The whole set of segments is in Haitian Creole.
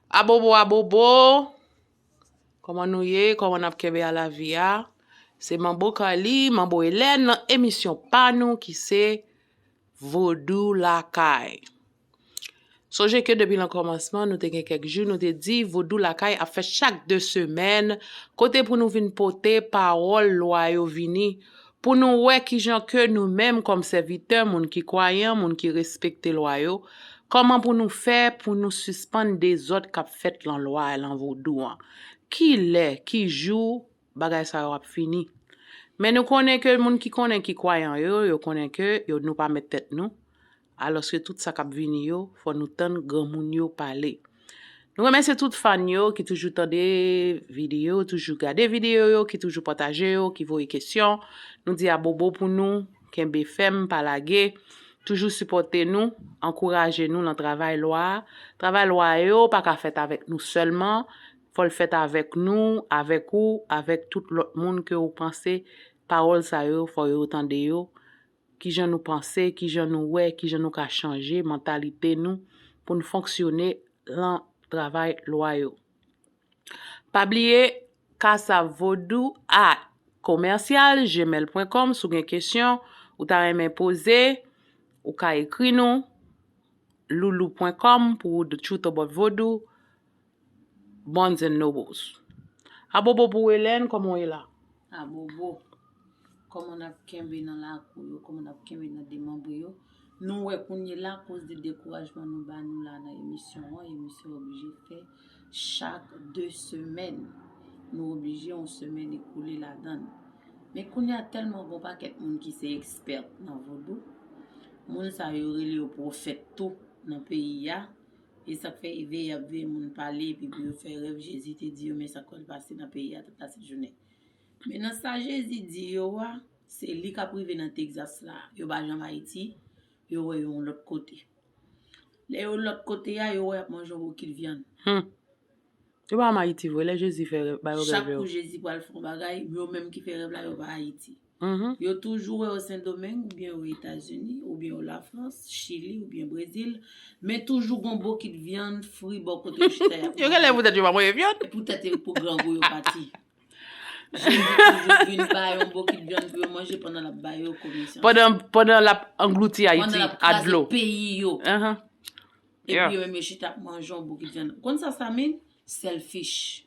Abobo abobo Koman nou ye Koman nap kenbe a lavi a Se manbo Carly manbo Helène nan emisyon pa nou ki se Vodou lakay Sonje ke depi nan kòmansman nou te gen kèk jou nou te di Vodou lakay ap fèt chak 2 semèn kote pou nou vin pote pawòl lwa yo vini Pou nou wè kijan ke nou menm kòm sèvitè, moun ki kwayan, moun ki respekte lwa yo, kòman pou nou fè pou nou sispann dezòd kap fèt lan lwa a, lan vodou an. Ki lè, ki jou bagay sa yo ap fini. Men nou konnen ke moun ki konnen ki kwayan yo, yo konnen ke yo nou pa mèt tèt nou. Alòske tout sa kap vini yo fò nou tann granmoun yo pale. Nou remèsye tout fan yo ki toujou tande video yo, toujou gade video yo, ki toujou pataje yo, ki voye kesyon. Nou di abobo pou nou, kenbe fèm, pa lage. Toujou sipòte nou, ankouraje nou lan travay lwa a. Travay lwa yo pa ka fèt avèk nou sèlman, fò l fèt avèk nou, avèk ou, avèk tout lòt moun ke ou panse pawòl sa yo fò yo tande yo Kijan nou panse, kijan nou wè, kijan nou ka chanje mantalite nou pou n fonksyone lan travay lwa yo. Pa bliye Casa Vodou a commercial gmail pwen kòm si w gen kesyon ou ta renmen poze ou ka ekri nou loulou pwen kòm pou the truth about vodou Barnes and Nobles. Abobo pou Helen, koman w ye la? Abobo, koman n ap kenbe nan lakou yo, koman n ap kenbe nan demanbre yo. Nou wè kounye la akoz de dekourajman nou ba nou la nan emisyon an, emisyon oblije fè chak 2 semèn. Nou oblije yon semèn ekoule ladan l. Men kounye a tèlman gen yon pakèt moun ki se ekspèt nan vodou, moun sa yo rele yo pwofèt tou nan peyi a. E sak fè eveye yap veye moun pale epi pou yo fè rèv Jezi te di yo men sak pral pase nan peyi a tout la sèt jounen. Men nan sa Jezi di yo a se li kap rive nan Texas la yo pa janm Ayiti yo wè yo yon lòt kote. Lè yo lòt kote a yo wè yap manje yon bokit vyann. Yo pa anm ayiti vre lè jezi fè rèv ba yo rèv yo. Chak kou jezi pral fon bagay yo menm ki fè rèv la yo pa ayiti yo toujou wè yo sendomeng oubyen yo etazini oubyen yo lafrans chili oubyen brezil men toujou gon bokit vyann fri bò kote yo chita yap manje yo genlè poutèt yo pa manje vyann poutèt pou grangou yo pati jezi toujou vin ba yo bokit vyann pou yo manje pandan lap ba yo komisyon pandan lap anglouti ayiti ak dlo pandan lap kraze peyi yo Epi yo menm yo chita ap manje yon bokit vyann. Ou konn sa sa mean? Selfish.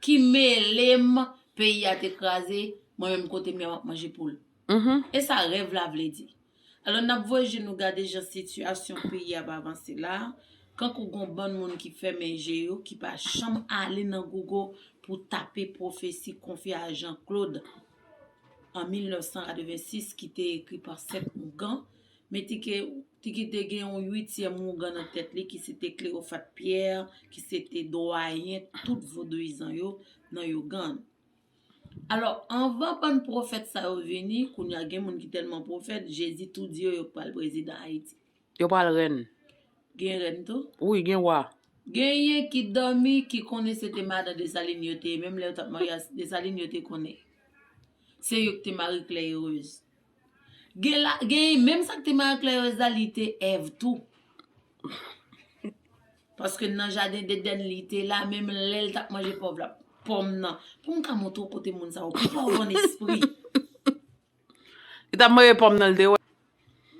Ki melem peyi a te kraze, mwen menm kotem ya map manje poul. E sa rèv la vle di. Alò nap voye je nou gade jan sitiyasyon peyi ap avanse la, kankou gon bann moun ki fèmen je yo ki pa janm ale nan Google pou tape pwofesi konfye a Jean Claude an 1986 ki te ekri pa 7 ougan Men Tike, Tike te gen yon uityèm wougan nan tèt li ki se te Cleophate Pierre ki se te dwayen tout vodouyizan yo nan yougan. Alò, anvan bann pwofèt sa yo vini, kounye a gen moun ki tèlman pwofèt, Jezi tou di yo yo pral prezidan Ayiti. Yo pral rèn. Gen rèn tou? Wi, gen wa. Genyen ki dòmi ki konnen se te madan Desalin yo te ye, menm lè yo t ap marye a Desalin yo te konnen. Se yo ki te Marie Claire Heureuse. Gen la gen menm sak te marie claire la li te Eve tou paske nan jaden d'eden li te la menm lèl tap manje pòv la pòm nan poum ka montre w kote moun sa yo pi pòv an espri li tap manje pòm nan li te wè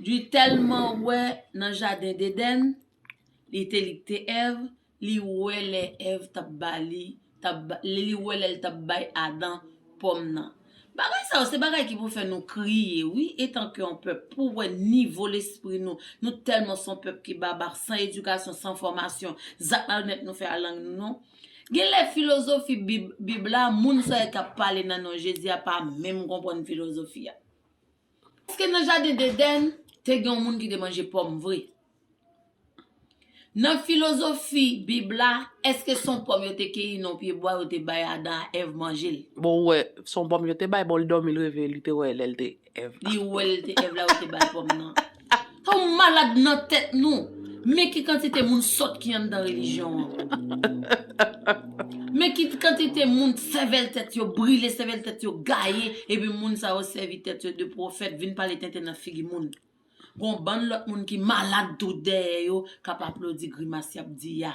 li tèlman wè nan jaden d'eden li te li te Eve li wè lè Èv tap ba li tap li wè lèl tap bay Adan pòm nan bagay sa yo se bagay ki pou fè nou kriye wi etan ke yon pèp pou wè nivo lespri nou nou tèlman son pèp ki babak san edikasyon san fòmasyon zak malonèt nou fè a lang nou non gen lè filozofi bib bib la moun sa yo kap pale nan non Jezi a pa menm konprann filozofi a. Èske nan jaden Dedèn te gen yon moun ki te manje pòm vre? Nan filozofi Bib la, èske se yon pòm yo te keyi nan yon pyebwa yo te bay Adan ak Èv manje l? Bon, ou wè, se yon pòm yo te bay, bon li dòmi l reve li te wè lè l te Èv la. Li wè l te Èv la yo te ba l pòm nan. Ak tanw malad nan tèt nou. Men ki kantite moun sòt ki anndan relijyon an. Men ki kantite moun sèvèl tèt yo brile, sèvèl tèt yo gaye, epi moun sa yo sèvi tèt yo de pwofèt, vin pale tenten nan figi moun. Gon bann lòt moun ki malad tou dèyè yo k ap aplodi grimas y ap di a.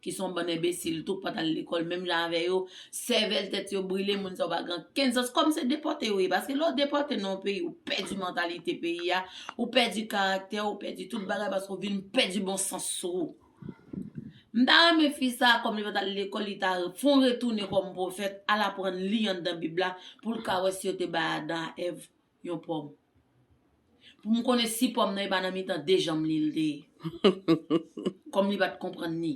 ki son bann enbesil tou k pat al lekòl menm jan avè yo, sèvèl tèt yo brile moun sa yo pa gen ankenn sans, kòm se depòte yo ye, paske lè w depòte nan yon peyi ou pèdi mantalite peyi a, ou pèdi karaktè ou, pèdi tout bagay paske ou vin pèdi bon sans ou. M ta renmen fi sa kòm li pat al lekòl li ta fon retounen kòm pwofèt al aprann li anndan bib la pou l ka wè si yo te bay Adan a Èv Yon pòm. Pou m konnen si pòm nan e pa nan mitan de janm li l te ye. Kòm li pa t konprann ni.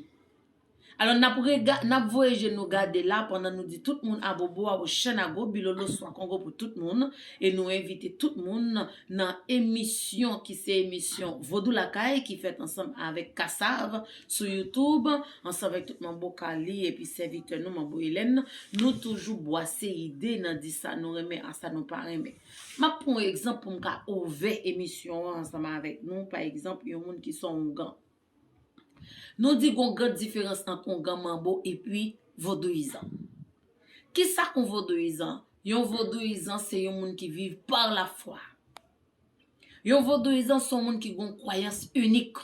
Alò n ap rega, n ap voye je nou gade la pandan nou di tout moun abobo a ou chen a gwo bilolo swa kongo pou tout moun e nou envite tout moun nan emisyon ki se emisyon Vodou Lakay ki fèt ansanm avèk Kassav sou youtube ansanm vek tout manbo kali epi sèvitè nou manbo elèn nan nou toujou bwase ide nan di sa nou renmen a sa nou pa renmen map pran yon egzanp poum ka ouvè emisyon an ansanm avek nou pa egzanp yon moun ki son ougan nou di gon gran diferans ant ougan manbo epi vodouyizan kisa yon vodouyizan yon vodouyizan se yon moun ki viv par la fwa yon vodouyizan son moun ki gon kwayans inik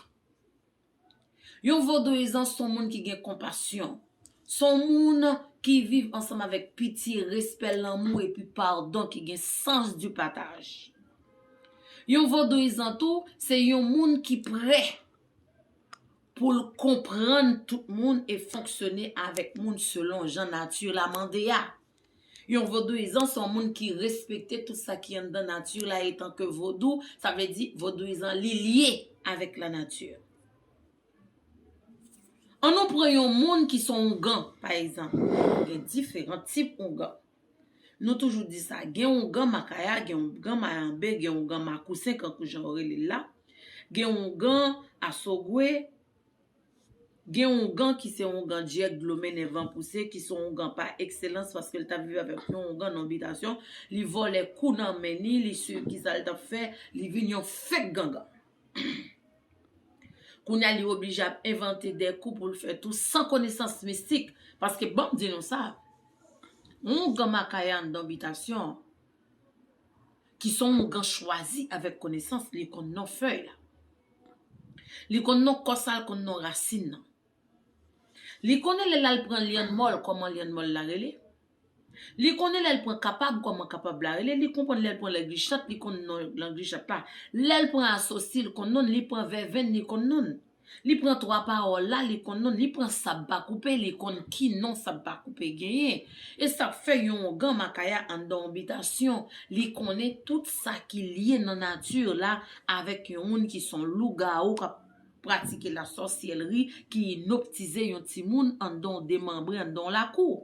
Yon vodouyizan s on moun ki gen konpasyon. S on moun ki viv ansanm avèk pitye, respè, lanmou epi padon ki gen sans di pataj. Yon vodouyizan tou se yon moun ki prè pou l konprann tout moun e fonksyone avèk moun selon jan nati la mande a. Yon vodouyizan se yon moun ki respekte tout sa ki anndan nati la etanke vodou, sa vle di vodouyizan li lye avèk lanati. An nou pran yon moun ki se yon ougan pa egzanp, gen diferan tip ougan. Nou toujou di sa, gen ougan makaya, gen ougan mayambe, gen ougan makousen kankou jan yo rele l la, gen ougan asogwe. Gen oungan ki se oungan dyèk dlo mennen van pouse ki se oungan pa ekselans paske l t ap viv avèk yon oungan non bitasyon li vòlè kou nan men ni li siw ki sa l t ap fè li vin yon fèk gangan kounya li oblije ap envante de kou pou l fè tou san konesans mistik paske ban m di nou sa oungan makaya anndan bitasyon ki se oungan chwazi avèk konesans li konn non fèy la. Li konn non kò sa l konn non rasin nan. Li konnen lè l al pran lyann mòl kòman lyann mòl la rele. Li konnen lè l pran kapab kòman kapab la rele. Li konprann lè l pran lègichat li konn non lègichat la. Lè l pran asosi l konn non l. Li pran vèvenn li konn non l. Li pran twa pawòl la li konn non l. Li pran sab pa koupe li konn ki non sab pa koupe genyen. E sa k fè yon ongan makaya anndan yon bitasyon li konnen tout sa ki lye nan nati la Avèk yon moun ki son lougawou kap pratike la sòsyèlri ki inoptize yon timoun anndan w demanbre anndan w lakou.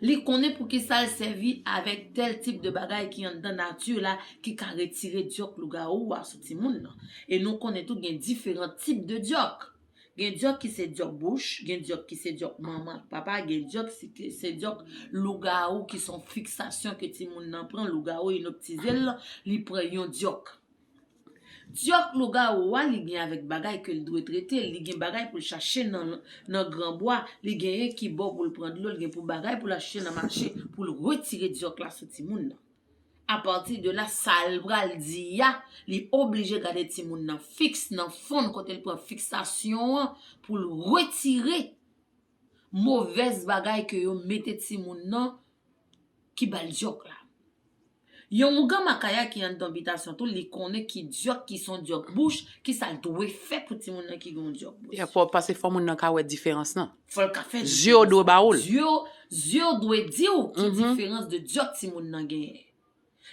Li konnen poukisa l sèvi avèk tèl tip de bagay ki anndan nati la ki ka retire dyòk lougawou a sou timoun nan. E nou konnen tou gen diferan tip de dyòk. Gen dyòk ki se dyòk bouch, gen dyòk ki se dyòk manman ak papa, gen dyòk ki se dyòk lougawou ki son fiksasyon ke timoun nan pran, lougawou inoptize l, li pran yon dyòk. Dyòk lougawou a li gen avèk bagay ke l dwe trete, li gen bagay pou l chache nan gran bwa, li genyen ki bò pou l pran dlo, li gen pou bagay pou l achte nan mache pou l retire dyòk la sou timoun nan. A pati de la sal pral di a li oblije gade timoun nan fiks nan fon kote l pran fiksasyon an pou l retire movèz bagay ke yo mete timoun nan ki ba l dyòk la. Yon mougan makaya ki anndan bitasyon tou li konnen ki dyòk ki son dyòk bouch, ki sa l dwe fè pou timoun nan ki gen yon dyòk bouch. Pase fò moun nan ka wè diferans nan. Fò l ka fè diferans. Zye w dwe ba ou l. Zye w dwe di w ki diferans de dyòk timoun nan genyen.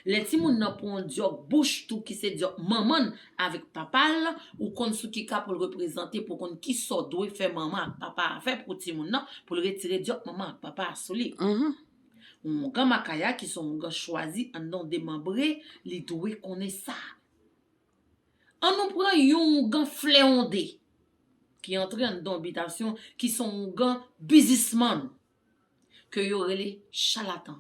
Lè timoun nan pran yon dyòk bouch tou ki se dyòk manman l avèk papa l, ou konn sou ki ka pou l reprezante pou w konn ki sa w dwe fè manman ak papa a fè pou timoun nan pou l retire dyòk manman ak papa a sou li. Yon ougan Makaya ki se yon ougan chwazi anndan yon demanbre li dwe konnen sa. An nou pran yon oungan fleonde ki antre anndan bitasyon ki son oungan bizismann ke yo rele chalatan.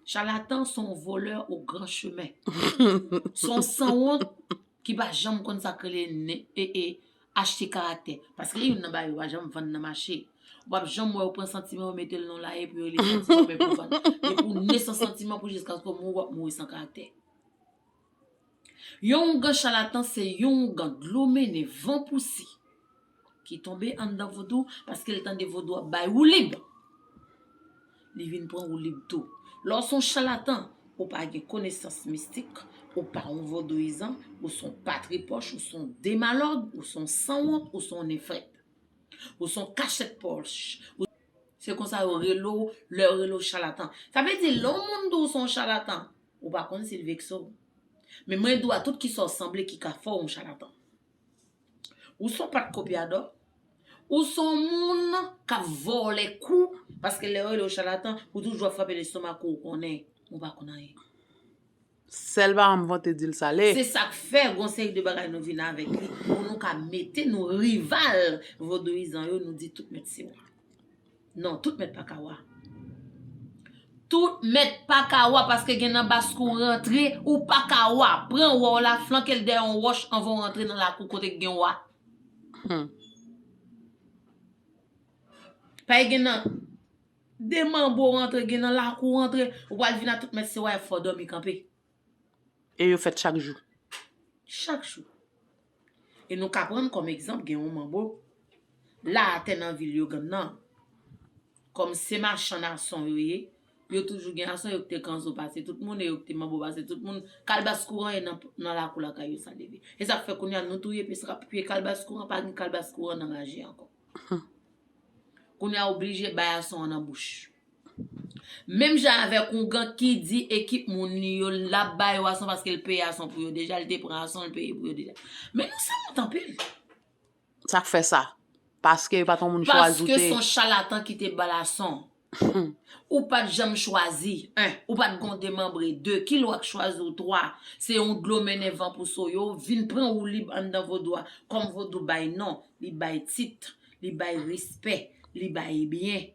Chalatan son volè o gran chemen. Son sanwont ki pa janm konn sa k rele ne e e achte karaktè. Paske youn nan bagay yo pa janm vann nan mache. Ou pap janm wè yo pran santiman yo mete l nan w la epi yo rele santiman men pou vann. Depi w ne san santiman pou jiskaske w mouri w ap mouri san karaktè. Yon oungan chalatan se yon oungan dlo mennen van pouse ki tonbe anndan vodou paske l tande vodou ap bay woulib li vin pran woulib tou. Lè w se yon chalatan, ou pa gen konesans mistik, ou pa yon vodouyizan, ou se yon patripòch, ou se yon demalòg, ou se yon sanwont, ou se yon nefèt. Ou se yon kachèt pòch. Se konsa yo rele w lè yo rele w chalatan. Sa vle di lè yon moun di w se yon chalatan, Ou pa konn sil vekse w. Men mwen di w a tout kisa w sanble ki ka fè w yon chalatan. Ou son pat kopyadò, ou son moun kap vòlè kou paske lè yo rele w chalatan ou toujou ap frape lestomak ou ou konnen ou pa konn anyen. Sèl paran m vante di l sale. Se sak fè gon seri de bagay nou vin avèk li pou nou ka mete nou rival vodouyizan yo nou di tout mèt se w. Non, tout mèt pa ka wa. Tout mèt pa ka wa paske gen nan bas kou rantre, ou pa ka wa. Pran wa w la, flanke l dèyè yon wòch anvan w rantre nan lakou kote k gen wa. Hum. Pay gen nan demanbo rantre, gen nan lakou rantre, ou pral vin a tout mèt se wa e fò w dòmi kanpe. E yo fèt chak jou. Chak jou. E nou ka prann kòm egzanp gen yon manbo la atè nan vil Yogann nan. Kòm se machann ason yo ye, yo toujou gen ason, yo kite kanzo pase tout moun e yo kite manbo pase tout moun. Kalbas kouran e nan lakou lakay yo sa leve. E sa k fè kounye a nou touye pesra pou piye kalbas kouran, pa gen kalbas kouran nan maji ankò. Kounye a oblije bay ason an nan bouch. Menm jan avèk oungan ki di ekip moun li yo l ap ba yo ason paske l peye ason pou yo deja, l te pran ason l peye pou yo deja. Men nou sanwont anpil. Sa k fè sa? Paske yo pa t yon moun chwazi ou te. Paske s on chalatan ki te ba l ason. Ou pa t janm chwazi, 1. Ou pa t gen yon demanbre, 2. Ki lwa k chwazi ou, 3. Se yon dlo mennen van pou so yo vin pran woulib anndan vodou a. Kòm vodou bay non, li bay tit, li bay respè, li bay byen.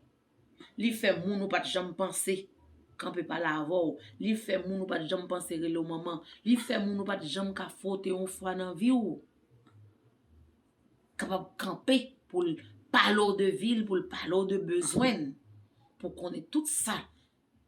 Li fè moun ou pat janm panse kanpe pale avè w. Li fè moun ou pat janm panse rele w manman. Li fè moun ou pat janm ka fwote yon fwa nan vi w. Kapab kanpe pou l pale w de vi l, pou l pale w de bezwen l. Pou konnen tout sa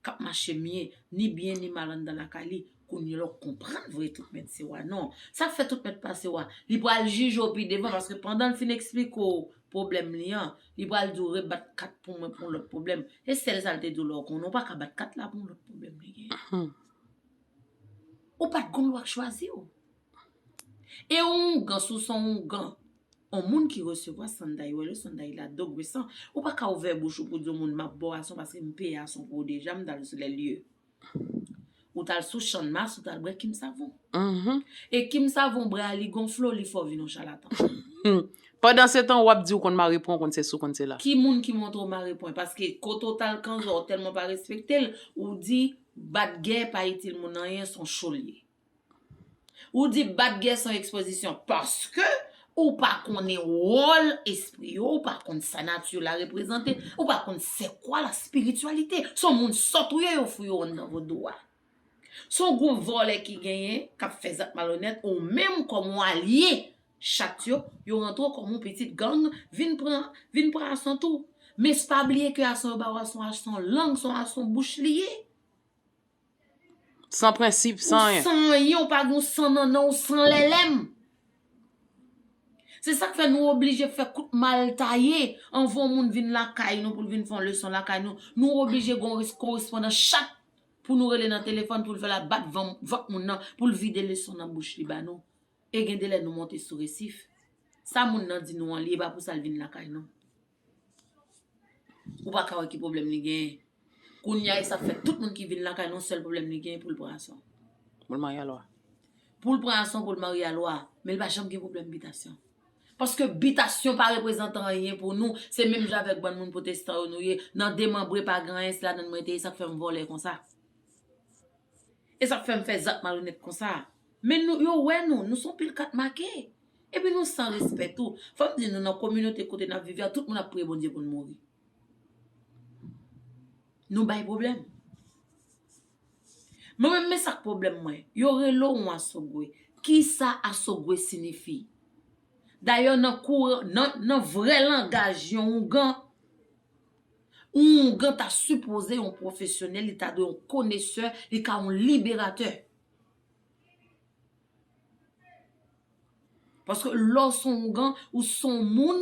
k ap mache mye, ni byen ni mal anndan lakay li, kounye la w konprann vre tout mèt se wa non. Sa k fè tout mèt pa se wa? Li pral jije w pi devan paske pandan l fin esplike w pwoblèm li an, li pral di w rebat kat pou mwen pou yon lòt pwoblèm. Se sèl sa l te di w la w konnen, ou pa ka bat kat la pou yon lòt pwoblèm li genyen. Ou pa t konn l w ap chwazi w. E on oungan si w son oungan, on moun ki resevwa sanday, wè lè sanday la dòk vre san, ou pa ka ouvè bouch ou pou di on moun map ba w ason paske m peye ason pou ou deja, m tal sou lè lye. Ou tal sou channmas ou tal bwè kim savon. E kim savon bra li gonfle w li fè w vin on chalatan. Pandan se tan wap di ou konn mare pwen ou konn sesi ou konn sela. Ki moun ki montre w mare pwen paske kote w tal kanzò ou tèlman pa respekte l ou di bat gè pa itil moun anyen son cho l ye. Ou di bat gè son ekspozisyon paske ou pa konnen wòl espri yo, ou pa konn sa nati yo la reprezante, ou pa konn se kwa la spirityalite. Son moun sòt ou ye yo fouye w anndan vodou a. Son gwoup vòlè ki genyen k ap fè zak malonnèt ou menm kòm ou alye chat yo, yo rantre w kòm yon pitit gang vin pran vin pran ason tou. Men s pa bliye ke ason yo ba w ason a son lang, son ason bouch li ye. San prensip, san anyen. Ou san anyen, ou pa gen yon san nannan, ou san lèlèm. Se sak fè nou oblije fè kout mal taye anvan yon moun vin lakay nou pou l vin fè yon leson lakay nou. Nou oblije gen yon korespondan chak pou nou rele nan telefòn pou l fè l al bat vant moun nan pou l vide leson nan bouch li ba nou. E gen de lè nou monte sou resif. Sa moun nan di nou an li e pa pou sa l vin lakay nou. Ou pa ka wè ki pwoblèm li genyen. Kounya e sa fè tout moun ki vin lakay nou sèl pwoblèm li genyen pou l pran Ason. Pou l marye a Lwa. Pou l pran Ason pou l marye a Lwa. Men li pa janm gen pwoblèm bitasyon. Paske bitasyon pa reprezantan anyen pou nou. Se menm jan avèk bann moun pwotestan yo nou ye. Nan demanbre pa gen anyen se ladann mwen te ye sa k fè m vòlè konsa. E sa k fè m fè zak malonèt konsa. Men nou, yo wè nou, nou son pil kat make. Epi nou san respè tou. Fò m di nou nan kominote kote n ap viv la, tout moun ap priye Bondye pou n mouri. Nou bay pwoblèm. Mwen menm men sa k pwoblèm mwen. Yo rele w yon asogwe. Kisa asogwe sinifi? Dayè nan kou, nan vrè langaj yon oungan, yon oungan ta sipoze yon pwofesyonèl, li ta dwe yon konesè, li ka yon liberatè. Paske lè w son ougan, ou son moun,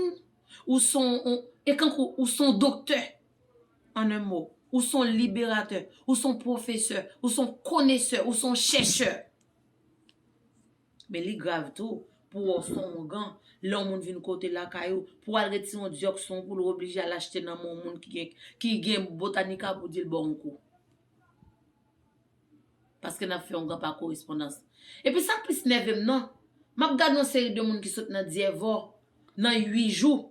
ou son on, e kankou ou son doktè. An en mo, ou son liberatè, ou son pwofesè, ou son konesè, ou son chèchè. Men li grav tou, pou wè w son ougan, lè yon moun vin kote lakay ou, pou al retire yon dyòk son pou l ou oblije al achte nan men yon moun ki gen botanika pou di l ba w yon kou. Paske nap fè yon gap a korespondans. Epi sak plis nèvem nan, map gad yon seri de moun ki sot nan dyèvò nan 8 jou.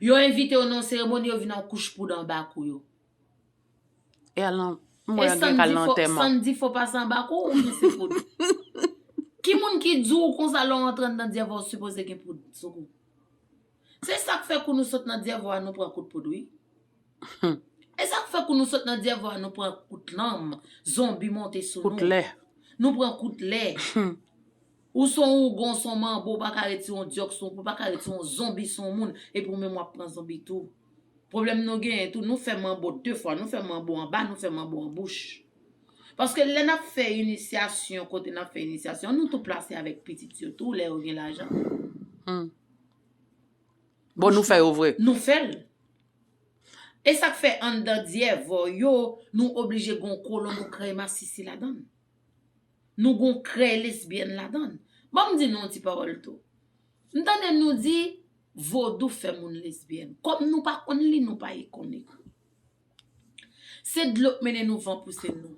Yo envitew nan yon seremoni yo vin an kouch poud anba kou yo. E al nan mò yo gen kal nan antèman. San di fo pase anba kou ou gen se poud. Ki moun ki diw konsa lè w antre andan dyèvò ou sipoze gen poud sou kou. Se sak fè kou nou sot nan dyèvo a nou pran kout poud wi humm. E sak fè kou nou sot nan dyèvo a nou pran kout lanm zonbi monte sou nou. Kout lè. Nou pran kout lè humm. Ou son ougon son manbo ou paka ret si on dyòk sou ou paka ret si on zonbi sou on moun epi ou menm wap pran zonbi tou. Pwoblèm nou genyen tou nou fè manbo de fwa nou fè manbo anba nou fè manbo an bouch. Paske lè nap fè inisyasyon kote nap fè inisyasyon nou tou plase avèk pitit yo tou lè yo gen lajan humm. Bon nou fè yo vre. Nou fèl. Esak fè anndan dyèvò yo nou oblije gon kolon nou krèy masisi ladann. Nou gon krèy lesbyèn ladann. Banm di nou yon ti pawòl tou. M tande nou di vodou fè moun lesbyèn. Kòm nou pa konn li nou pa konn ekri. Se dlo k mennen nou van pouse nou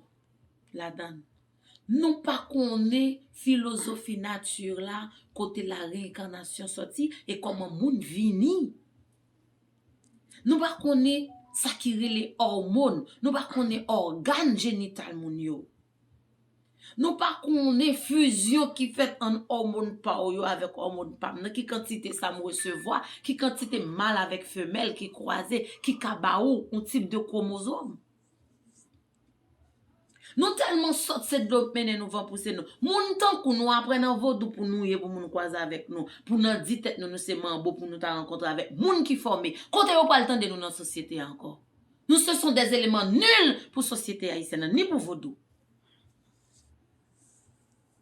ladann. Nou pa konnen filozofi nati la, kote la reyenkanasyon soti e kòman moun vini. Nou pa konnen sa ki rele òmon, nou pa konnen ògàn jenital moun yo. Nou pa konnen fizyon ki fèt ann òmon pa w yo avèk òmon pa m nan, ki kantite sa m resevwa, ki kantite mal avèk femèl ki kwaze ki ka ba ou yon tip de kwomozom. Nou telman sòt se dlo k mennen nou van pouse nou moun tankou nou aprè nan vodou pou nou ye pou moun kwaze avèk nou pou nan di tèt nou nou se manbo pou nou ta rankontre avèk moun ki fòme kote yo pral tande nou nan sosyete a ankò nou se son des eleman nul pou sosyete ayisyèn an ni pou vodou.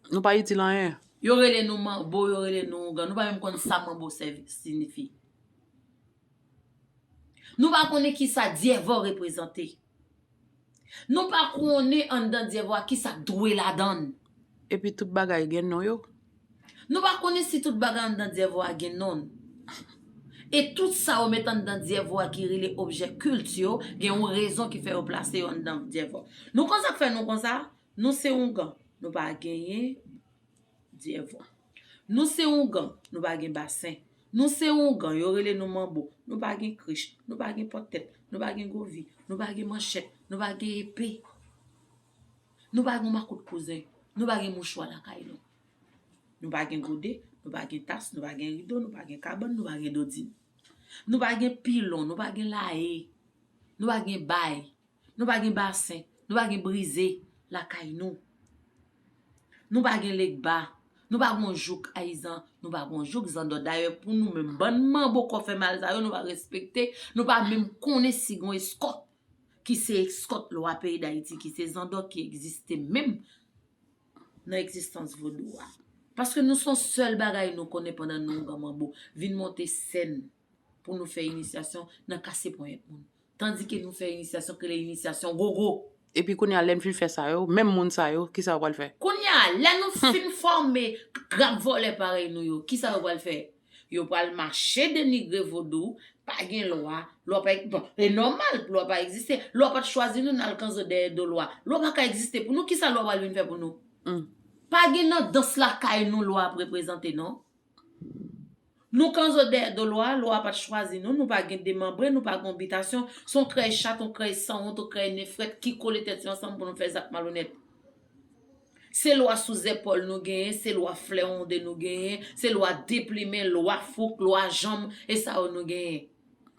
Nou pa itil anyen. Yo rele nou manbo yo rele nou ougan nou pa menm konn sa manbo sinifi nou pa konnen kisa dyèvò reprezante Nou pa konnen anndan dyèvo a kisa k dwe ladann. Epi tout bagay gen non yo. Nou pa konnen si tout bagay anndan dyèvo a gen non. E tout sa yo met anndan dyèvo a ki rele objè kilt yo gen yon rezon ki fè yo plase yo anndan dyèvo. Nou konn sa k fè nou konsa? Nou se oungan. Nou pa genyen Dyèvwa. Nou se oungan, nou pa gen basen. Nou se oungan, yo rele nou manbo. Nou pa gen krich, nou pa gen pòt tèt, nou pa gen govi, nou pa gen manchèt, nou pa gen epe. Nou pa gen makout kouzen, nou pa gen mouchwa lakay nou. Nou pa gen gode, nou pa gen tas, nou pa gen rido, nou pa gen kabann, nou pa gen dodin. Nou pa gen pilon, nou pa gen laye, nou pa gen bay, Nou pa gen basen, nou pa gen brize lakay nou. Nou pa gen legba, nou pa gon jouk ayizan, nou pa gon jouk zandò. Dayè pou nou menm bann manbo kò fè mal sa yo nou pa respekte, nou pa menm konnen si gon eskòt ki se eskòt lwa peyi Dayiti ki se zandò ki egziste menm nan egzistans vodou a. Paske nou son sèl bagay nou konnen pandan nou anba manbo vin monte sèn pou nou fè inisyasyon nan kase ponyèt moun. Tandike nou fè inisyasyon k rele inisyasyon gogo. Epi kounye a, lè n fin fè sa yo, menm moun sa yo, ki sa yo pral fè? Kounye a, lè nou fin fòme grap vòlè parèy nou yo, ki sa yo pral fè? Yo pral mache denigre vodou, pa gen lwa, lwa pa, bon, e nòmal pou lwa pa egziste. Lwa pa t chwazi nou n al kanzo dèyè do lwa. Lwa pa ka egziste pou nou, ki sa lwa pral vin fè pou nou? Pa gen nan dans lakay nou lwa ap reprezante non. Nou kanzo dèyè do lwa, lwa pat chwazi nou, nou pa gen de manbre, nou pa gen yon bitasyon, se yon krèy chat, yon krèy sanwont, yon krèy nen frèt ki kole tèt yo ansanm pou nou fè zak malonèt. Se lwa sou zèpòl nou genyen, se lwa flèwonde nou genyen, se lwa deplimen, lwa fouk, lwa janm, e sa yo nou genyen.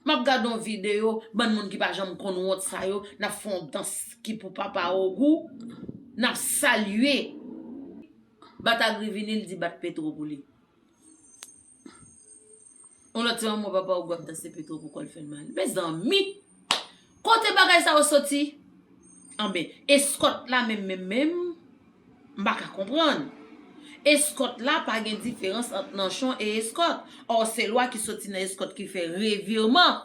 Map gad yon video bann moun ki pa janm konn wont sa yo nap fè yon dans ki pou papa ogou nap salye bat agri vini li di bat petro pou li yon lòt se yon mò papa ogou ap danse petro pou kòl fèl mal mezanmi. Kote bagay sa yo soti? Anben, eskòt la menm menm menm? M pa ka konprann. Eskòt la pa gen diferans ant nanchon e eskòt. Ò se lwa ki soti nan eskòt ki fè revirman,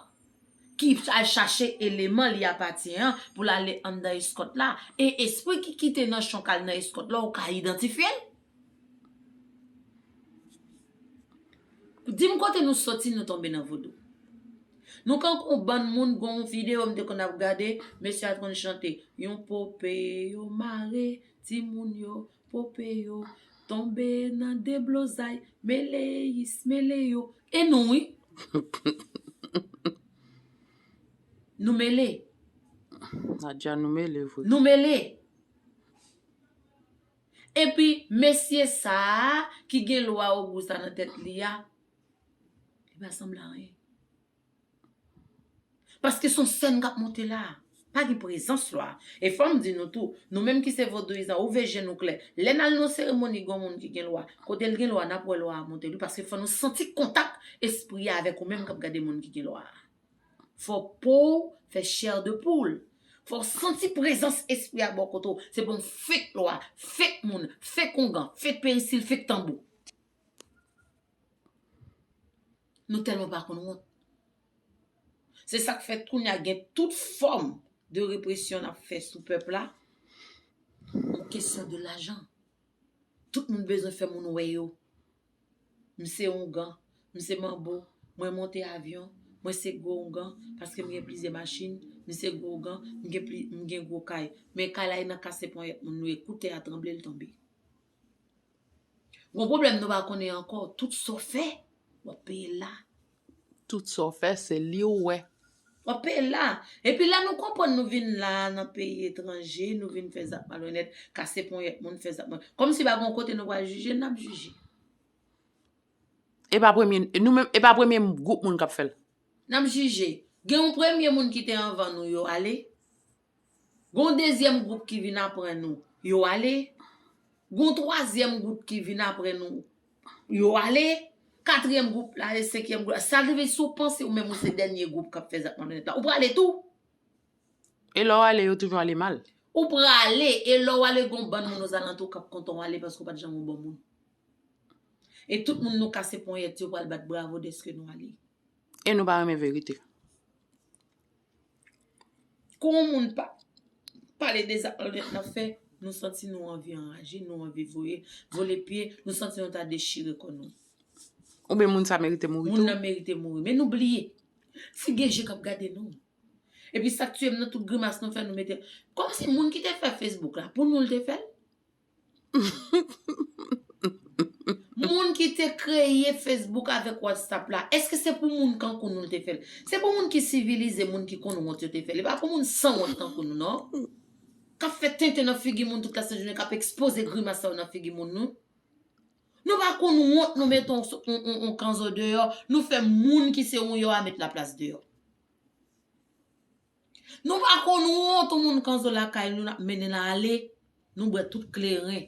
ki al chache eleman li apatyen an pou l ale anndan eskòt la. E espri ki kite nanchon k al nan eskòt la ou ka idantifye l? Dim kote nou soti nou tonbe nan vodou. Nou kankou yon bann moun gon yon video m te konn ap gade mesye a t konn chante yon pope yo mare timoun yo pope yo tonbe nan deblozay mele is mele yo e nou wi Nou mele Nadia nou mele vre Nou mele Epi mesye sa a ki gen lwa ogou sa nan tèt li a, li pa sanble a anyen. Paske son sèn k ap monte la a. Pa gen prezans lwa. E fò m di nou tou, nou menm ki se vodouyizan, ouvè je nou klè. Lè n al nan yon seremoni gen yon moun ki gen lwa, kote l gen lwa, n ap wè lwa a monte wi. Paske fò nou santi kontak espri a avèk ou menm k ap gade moun ki gen lwa a. Fòk pouw fè chair de poule. Fòw santi prezans espri a bò kote w. Se pou yon fake lwa, fake moun, fake ongan, fake perisil, fake tanbou. Nou tèlman pa konn wont. Se sak fè kounye a gen tout fòm de represyon nap fè sou pèp la. Pou kesyon de lajan. Tout moun bezwen fè moun wè yo. M se oungan, m se manbo, mwen monte avyon, mwen se gwo oungan, paske m gen plizyè machin, m se gwo ougan, m gen pli, m gen gwo kay. Men kay la e nan kase ponyèt moun nou e kou tè a tranble l tonbe. Gon pwoblèm nou pa konnen ankò, tout sa w fè, w ap peye l la. Tout sa w fè se li w wè. Kanpe la! Epi lè nou konprann nou vin la nan peyi etranje, nou vin fè zak malonèt, kase ponyèt moun, fè zak malonèt. Kòmsi pa gen yon kote nou pral jije, n ap jije. E pa premye, nou menm, e pa premye gwoup moun k ap fè l. N ap jije. Gen yon premye moun ki te anvan nou yo ale. Gon dezyèm gwoup ki vin apre nou, yo ale. Gon twazyèm gwoup ki vin apre nou, yo ale. Katriyèm gwoup la ale, senkyèm gwoup la ale. Sa rive si w panse ou menm ou se dènye gwoup k ap fè zak malonnèt la, ou prale tou. E lè w ale, yo toujou ale mal. Ou prale, e lè w ale gon bann moun ozalantou w k ap kontan w ale paske ou pa t janm yon bon moun. E tout moun nou kase ponyèt yo pral bat bravo dèske nou ale. E nou pa renmen verite. Kou yon moun pa pale de zak malonèt l ap fè, nou santi nou anvi anraje, nou anvi voye, vole pye, nou santi nou ta dechire kò nou. Oubyen moun sa merite mouri tou. Moun nan merite mouri. Men nou bliye, si gen je k ap gade nou. Epi sa k tiye m nan tout grimas nou fè nou mete. Kòmsi moun ki te fè Facebook la, pou nou l te fè l? Moun ki te kreye Facebook avèk WhatsApp la, èske se pou moun kankou nou l te fè l? Se pou moun ki sivilize, moun ki konn wont yo te fè l. E pa pou moun san wont tankou nou non. K ap fè tenten nan figi moun tout lasejounen, k ap ekspoze grimas sa yo nan figi moun nou. Nou pa konn wont nou mete yon kanzo deyò, nou fè moun ki se yon yò a met laplas deyò. Nou pa konn wont ou moun kanzo lakay nou nap mennen l ale nou bwè tout kleren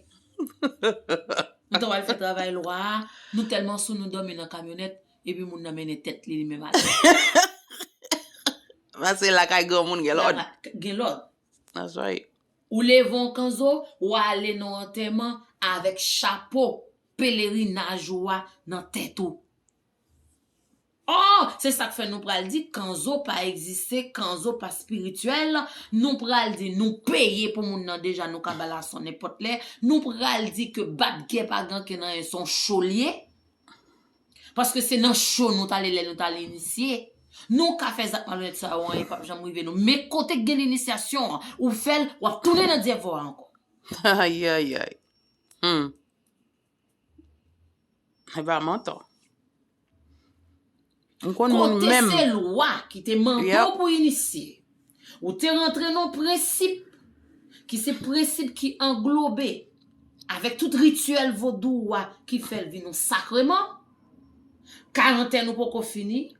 nou ta wal fè travay lwa a nou tèlman sou nou dòmi nan kamyonèt epi moun nan mennen tèt li li menm ale pase lakay granmoun gen lòd gen lòd that's right ou leve w kanzo w ale nan w antèman avèk chapo pelerinaj ou a nan tèt ou. Ohh se sak fè nou pral di kanzo pa egziste kanzo pa spirituel nou pral di nou peye pou moun nan deja nou ka bal ason nenpòt lè nou pral di ke bat gè pa ganken nan yen son cho li ye paske se nan cho nou tale lè nou tal inisye nou ka fè zak malonèt sa yo anyen pap janm rive nou men kote k gen inisyasyon an ou fèl wap tounen nan dyèvo a ankò. Ayayayy humm. E pa manto. M konn moun menm. Kote se lwa ki te mande w pou inisye. Ou te rantre nan prensip ki se prensip ki anglobe avèk tout rityèl vodou ou a ki fè l vin yon sakreman. Karantèn ou poko fini.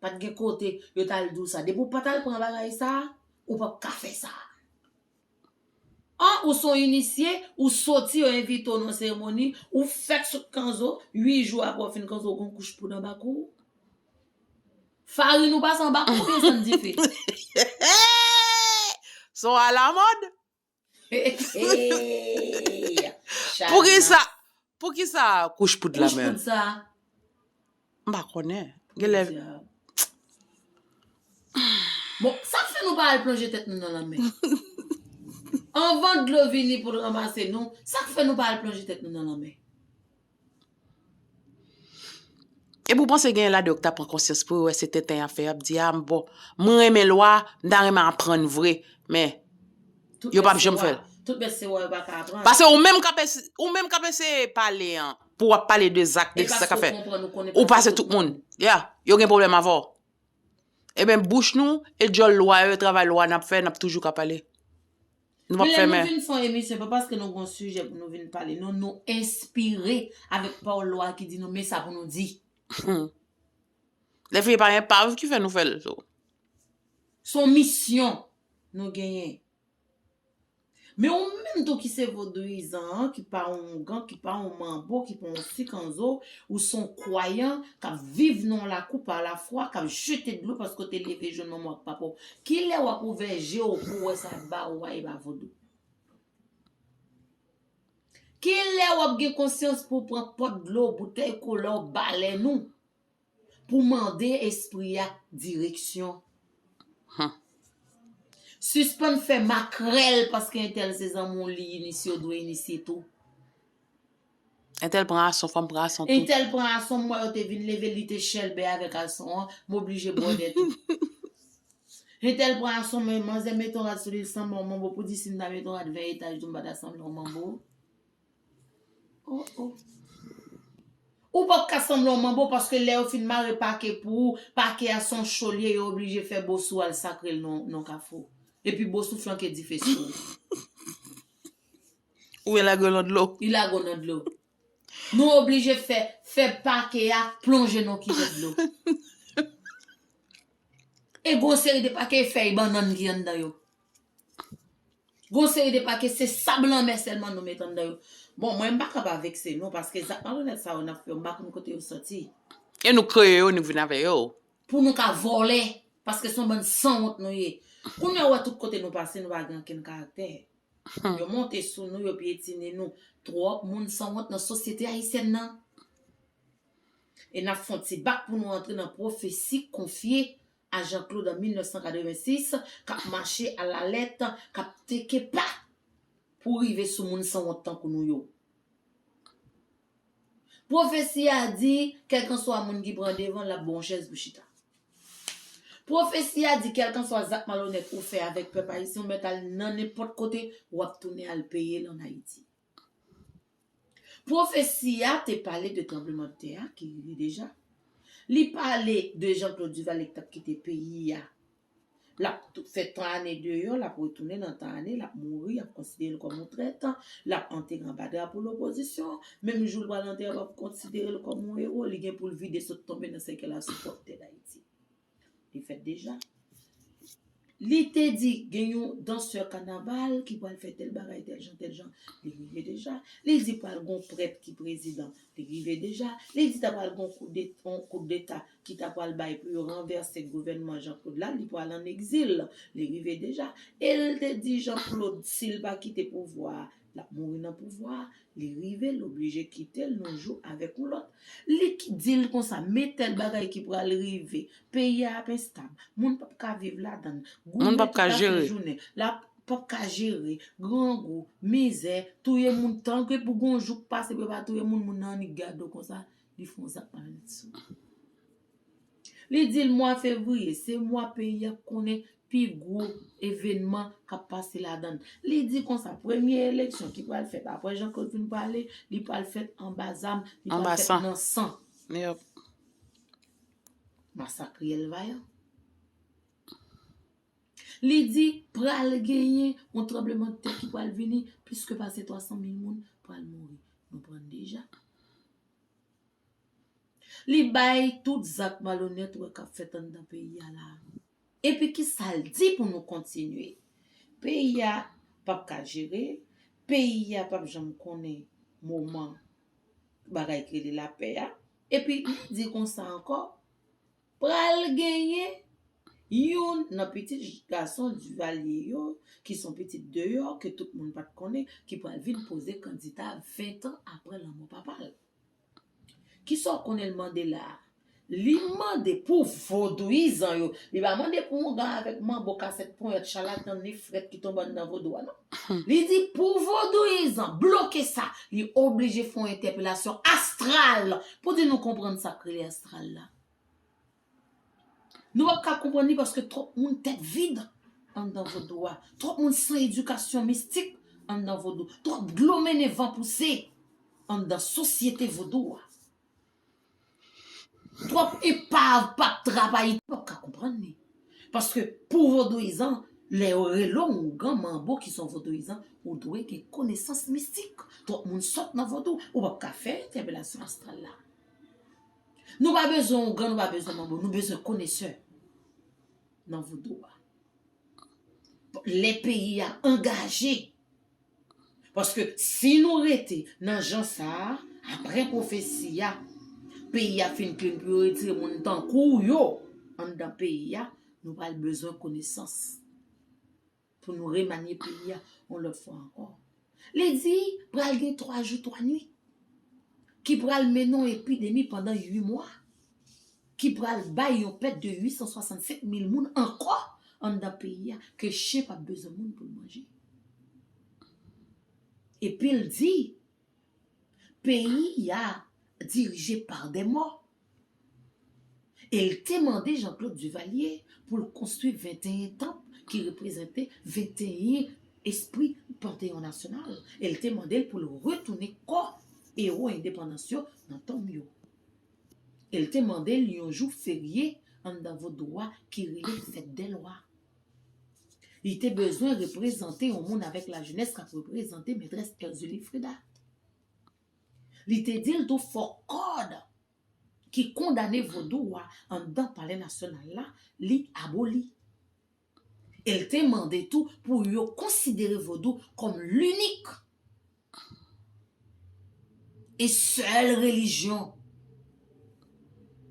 Pat gen kote yo tal diw sa. Depi w pat al pran bagay sa, ou pap ka fè sa. An ou son inisye, ou soti yo envite w nan seremoni, ou fèk sot kanzo, 8 jou apre w fin kanzo ou gon kouch poud anba kou w. Farin ou pase anba kou w oubyen san dife? Son alamòd? Pou ki sa, pou ki sa kouch poud la menm? Kouch poud sa. M pa konnen. Gen lè. Bon, sa k fè nou pa al plonje tèt nou nan lanmè? Anvan dlo vini pou l ranmase nou, sa k fè nou pa al plonje tèt nou nan lanmè? Epi ou panse genyen ladan yo ki ta pran konsyans pou yo wè se tenten y ap fè y ap di a bon mwen renmen lwa a m ta renmen aprann vre men yo p ap janm fè l. Pase ou menm k ap eseye pale an pou w ap pale de zak de sa k ap fèt ou pase tout moun ya yo gen pwoblèm avè w eben bouch nou e dyòl lwa yo e travay lwa n ap fè n ap toujou ka pale. Nou pap fè men. Genlè nou vin fon emisyon epa paske nou gon sijè pou nou vin pale non nou enspire avèk pawòl lwa ki di nou men sa pou nou di. Dèfini pa enpav ki fè nou fè l so. Son misyon nou genyen. Men ou menm tou ki se vodouyizan an ki pa yon ougan ki pa yon manbo ki pa yon sikanzo ou son kwayan kap viv nan yon lakou pa lafwa kap jete dlo paske w te leve jwenn manman w ak papa w Kilè wap ouvè je w pou wè sa ba ou a epa vodou. Kilè wap gen konsyans pou pran pot dlo boutèy kola w balèn ou pou mande espri a direksyon humm. Sispann fè makrèl paske entèl se zanmi w li inisye w dwe inisye tou. Entèl pran ason fòm pran ason tou. Entèl pran ason m wè yo te vin level li te chèlbè avèk ason an m oblije bwòdè tou. Entèl pran ason men manzè mete yon rad sou li l sanble yon manbo pou di si m ta mete yon rad 20 etaj tou m pa ta sanble yon manbo oh oh. Ou pap ka sanble yon manbo paske lè yo fin mare pake pou ou pake a son cho l ye yo oblije fè bosou al sakre l nan yon kafou epi bosou flanke dife sou ou. Ou byen lage yo lan dlo. Li lage w nan dlo. Nou oblije fè fè pake a plonje nan yon kivèt dlo. E gon seri de pake e fèy bannann ki anndan yo. Gon seri de pake se sab lanmè sèlman nou met anndan yo. Bon mwen m pa ka pa vekse nou paske zak malonèt sa yo n ap fè yo m pa konn kote yo soti. E nou kreye yo nou vin avè yo. Pou nou ka vòlè paske se yon bann sanwont nou ye. Kounye a ou wè tout kote nou pase nou pa gen ankenn karaktè. Yo monte sou nou, yo pyetine nou. Twòp moun sanwont nan sosyete ayisyèn nan. E n ap fè yon ti bak pou nou antre nan pwofesi konfye a Jean Claude an 1986 k ap mache alalèt, k ap teke pa pou rive sou moun sanwont tankou nou yo. Pwofesi a di, kèlkanswa moun ki pran devan, l ap ba w yon chèz pou w chita. Pwofesi a di, kèlkanswa zak malonèt ou fè avèk pèp ayisyen, ou mèt al nan nenpòt kote, w ap tounen al peye l ann Ayiti. Pwofesi a te pale de tranblemanntè a ki rive deja. Li pale de Jean Claude Duvalier ki t ap kite peyi a Lap fè tan ane deyò, lap retounen nan tan ane, lap mouri, yap konsidere l kòm yon trèt, lap antere anba drapo lopozisyon, menm jou l pral antere wap konsidere l kòm yon ewo, li gen pou l vide sot tonbe nan sèkèy la sou pwòp tè Dayiti. Li fèt deja. Li te di gen yon dansè kanaval ki pral fè tèl bagay, tèl jan, tèl jan, li rive deja. Li di pral gen yon prèt ki prezidan, li rive deja. Li di ta pral gen yon koudeta. ki ta pwal bay pou yo ranvèse gouvènman Jean Claude la, li pwal an egzil, li rive deja, e l te di Jean Claude si l pa kite pouvwa a, l ap mouri nan pouvwa a, li rive, l oblije kite l yon jou avèk yon lòt, li di l konsa, men tèl bagay ki pwal rive, peyi a ap enstab, moun p ap ka viv ladan l, goumen tout a fè jounen, l ap p ap ka jere, grangou, mizè, touye moun, tanke pou gen yon jou k pase pou yo pa touye moun, moun nan annik gade w konsa. Li fè yon zak malonèt sou li. Li di l mwa fevriye se mwa peyi a konnen pi gwo evènman k ap pase ladan l. Li di konsa premye eleksyon ki pral fèt apre Jean Claude fin pale, li pral fèt anba zam, li pral fèt nan san. Masak riyèl vayan. Li di, pral genyen yon tranblemanntè ki pral vini, plis ke pase 300 mil moun pral mouri. Nou pran deja. Li bay tout zak malonèt ou wè k ap fèt anndan peyi a la a. Epi ki sa l di pou nou kontinye? Peyi a p ap ka jere, peyi a p ap janm konnen moman bagay ki rele lapè a. Epi li di konsa ankò, Pral genyen youn nan pitit gason Duvalier yo ki son pitit deyò ke tout moun pat konnen ki pral vin poze kandita 20 tan apre lanmò papa l. Kisa w konnen l mande la a? Li mande pou vodouyizan yo, li pa mande pou Ongan avèk Manbo kasèt ponyèt chalatan ni frèt ki tonbe anndan vodou a non. Li di pou vodouyizan bloke sa, li oblije fè yon entèpelasyon astral pou di nou konprann sa k rele astral la. Nou pap ka konprann li paske twòp moun tèt vid anndan vodou a, twòp moun san edikasyon mistik anndan vodou, twòp dlo mennen van pouse anndan sosyete vodou a. Twòp epav pap travay, nou pap ka konprann li. Paske pou vodouyizan, lè yo rele w ougan, manbo ki se yon vodouyizan, ou dwe gen konesans mistik. Twòp moun sòt nan vodou, ou pap ka fè entèpelasyon astral la. Nou pa bezwen ougan, nou pa bezwen manbo, nou bezwen konesè nan vodou a. Lè peyi a angaje, paske si nou rete nan jan sa a, apre pwofesi a, peyi a fin klin pou yo retire moun tankou yo anndan peyi a, nou pral bezwen konesans. Pou nou remanye peyi a yon lòt fwa ankò. Li di pral gen 3 jou 3 nwit ki pral mennen yon epidemi pandan 8 mwa ki pral bay yon pèt de 865 mil moun ankò anndan peyi a ke chen pap bezwen moun pou l manje. Epi l di peyi a dirije pa dè mò. e l te mande Jean-Claude Duvalier pou l konstwi 21 tanp ki reprezante 21 espri panteyon nasyonal e l te mande l pou l retounen kò ewo endepandans yo nan tonm yo e l te mande l yon jou ferye anndan vodou a ki rele fèt dè lwa. Li te bezwen reprezante yon moun avèk lajenès k ap reprezante Metrès Erzulie Freda. Li te di l tou fò kòd ki kondane vodou a anndan Palè Nasyonal la, li aboli. E l te mande tou pou yo konsidere vodou kòm linik e sèl relijyon.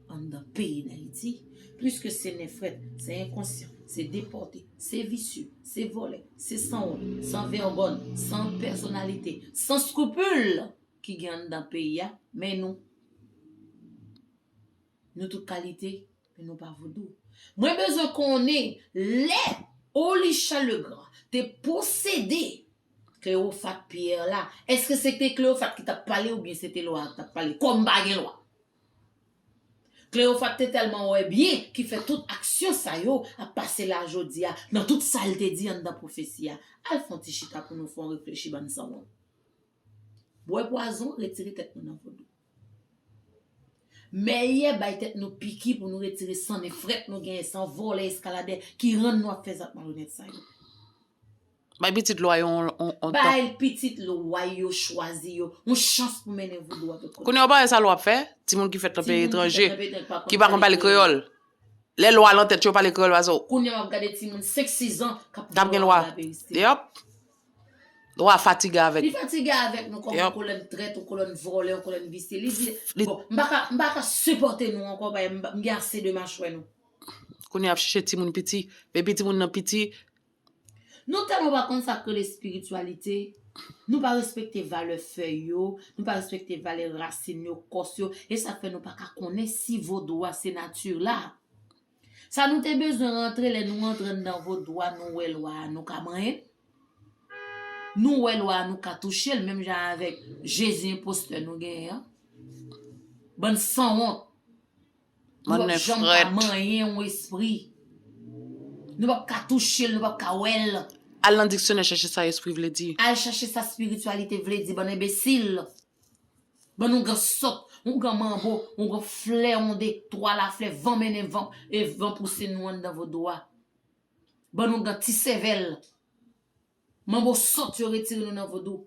Anndan peyi dayiti, pliske se nen frèt, se enkonsyan, se depòte, se visye, se vòlè, se sanwont, san vègòn, san pèsonalite, san skrupul ki gen anndan peyi a, men nou, nou tout kalite. Men nou pa vodou. Mwen bezwen konnen lè Olichan Legrand te posede Cleophate Pierre la, eske se te Cleophate ki tap pale ou byen se te lwa ki tap pale? Kòm pa gen lwa. Cleophate te tèlman wè byen ki fè tout aksyon sa yo ap pase la jodi a nan tout sa l te di anndan pwofesi a. Al fon ti chita pou nou fon reflechi bann sanwont. Bwè pwazon retire tèt nou nan vodou. Mèyè bay tèt nou piki pou nou retire san nen frèt nou genyen, san vòlè eskaladè ki rann nou ap fè zak malonèt sa yo. Bay pitit lwa yo yon tan. Bay pitit lwa yo chwazi yo yon chans pou mennen vodou a tout kote. Kounye a ou pa wè sa lwa ap fè timoun ki fèt nan peyi etranje, ki pa konn pale kreyòl. Lè lwa lan tèt yo pale kreyòl pa se. Kounye a wap gade timoun 5, 6 an kap gen lwa. Yap. Wa fatige avèk. Li fatige avèk nou kòm yon kolonn trèt, yon kolonn vòlè, yon kolonn visye. Li di, bon, m pa ka, m pa ka sipòte nou ankò paske m gen ase de machwè nou. Kounye a y ap chèche timoun piti. Epi timoun nan piti. Nou tèlman pa konn sa k rele espirityalite, nou pa respekte valè fèy yo, nou pa respekte valè rasin yo, kòs yo, e sa k fè nou pa ka konnen si vodou a se nati la. Sa nou te bezwen rantre lè nou antre nan vodou a nou wè lwa a nou ka manyen nou wè lwa a nou ka touchel menm jan avèk jezi enpostè nou genyen an bann sanwont nou pap janm ka manyen yon espri nou pap ka touchel nou pap ka wèl al nan diksyonè chache sa espri vle di al chache sa spirityalite vle di bann enbesil. Bann on gan sòt, on gan manbo, on gan flè on de twa laflè van mennen van e van pouse nou anndan vodou a. Bann on gan ti sèvèl. Manbo sòt yo retire nou nan vodou.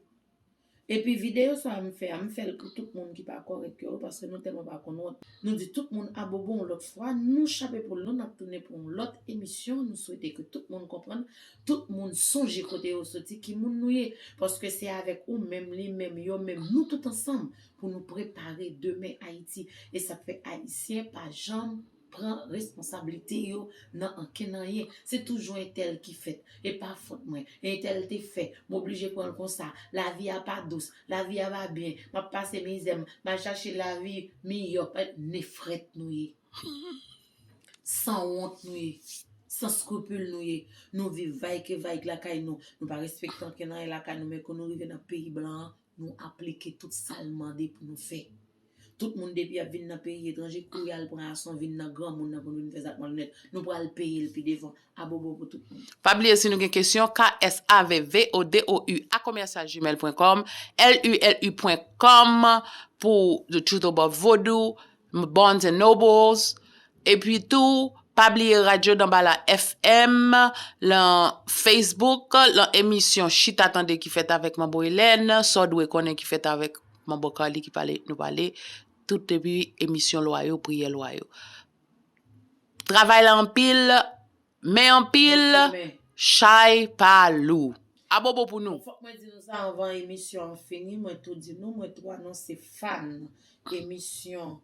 Epi videyo sa m fè a m fèl pou tout moun ki pa kòrèk yo paske nou tèlman pa konn wont. Nou di tout moun abobo yon lòt fwa, nou chape poul nou nap tounen pou yon lòt emisyon, nou swete ke tout moun konprann Tout moun sonje kote yo soti, ki moun nou ye, paske se avèk ou menm, li menm, yo menm, nou tout ansanm pou nou prepare demen Ayiti. E sa k fè Ayisyen pa janm pran responsablite yo nan ankenn anyen. Se toujou entèl ki fèt, e pa fòt mwen, e entèl te fè, m oblije pran l konsa, lavi a pa dous, lavi a pa byen, m ap pase mizè, m al chache lavi miyò, nefret nou ye. Humm san wont nou ye san scrupule nou ye nou viv vayke vayk lakay nou nou pa respekte anken nan lakay nou men kou nou rive nan peyi blan an nou aplike tout sal mande pou nou fè tout moun depi yap vin nan peyi etranje kou yal pran ason vin nan granmoun nan pou nou vin fè zak malonèt nou pral peyel pi devan abobo pou tout moun. Pa bliye si nou gen kesyon ksavvodoua-commercial-gmail.com lulu pwen kòm pou the truth above vodou Barnes and Nobles, epi tou pa bliye Radyo Danbala FM lan Facebook lan emisyon Chita Tande ki fèt avèk Manbo Elèn, Sa w dwe konnen ki fèt avèk Manbo Carly ki pale nou pale tout epi emisyon lwa yo, priyè lwa yo. Travay la anpil, Men anpil chay pa lou. Abobo pou nou. Bon fòk mwen di nou sa anvan emisyon an fini mwen tou di nou mwen tou anonse fan emisyon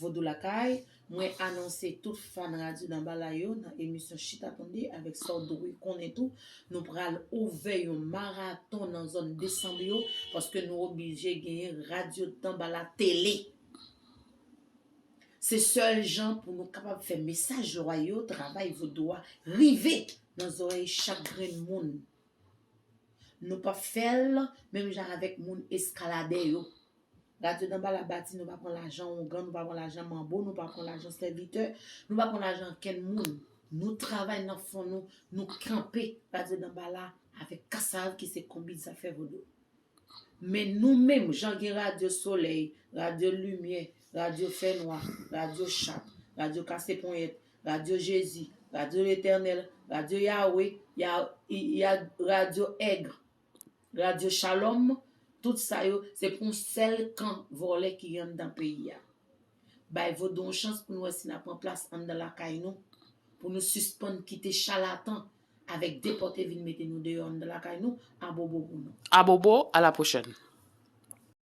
vodou lakay mwen anonse tout fan radyo danbalay yo nan emisyon chita tande avèk sa w dwe konnen tou nou pral ouvè yon maraton nan zòn desanb yo paske nou oblije genyen radyo danbala tele. Se sèl jan pou nou kapab fè mesaj lwa yo, travay vodou a rive nan zòrèy chak grenn moun. Nou pa p fè l menm jan avèk moun eskaladè yo. Radyo Danba Labati nou pa pran lajan Ongan, nou pa pran lajan Manbo, nou pa pran lajan sèvitè, nou pa pran lajan ankenn moun. Nou travay nan fon nou, nou kanpe Radyo Danbala avèk Kasav ki se konbit zafè vodou. Men nou menm, jan gen radyo solèy, radyo limyè, radyo fènwa, radyo chat, radyo kase ponyèt, radyo Jezi, radyo Letènèl, radyo Yawe, ya, radyo èg, radyo Shalom, tout sa yo, se pou yon sèl kan vòlè ki gen anndan peyi a. Bay vodou yon chans pou nou wè si n a pran plas anndan lakay nou, pou nou sispann kite chalatan Avek depote vin mete nou deyo anndan lakay nou abobo pou nou. Abobo a la prochèn.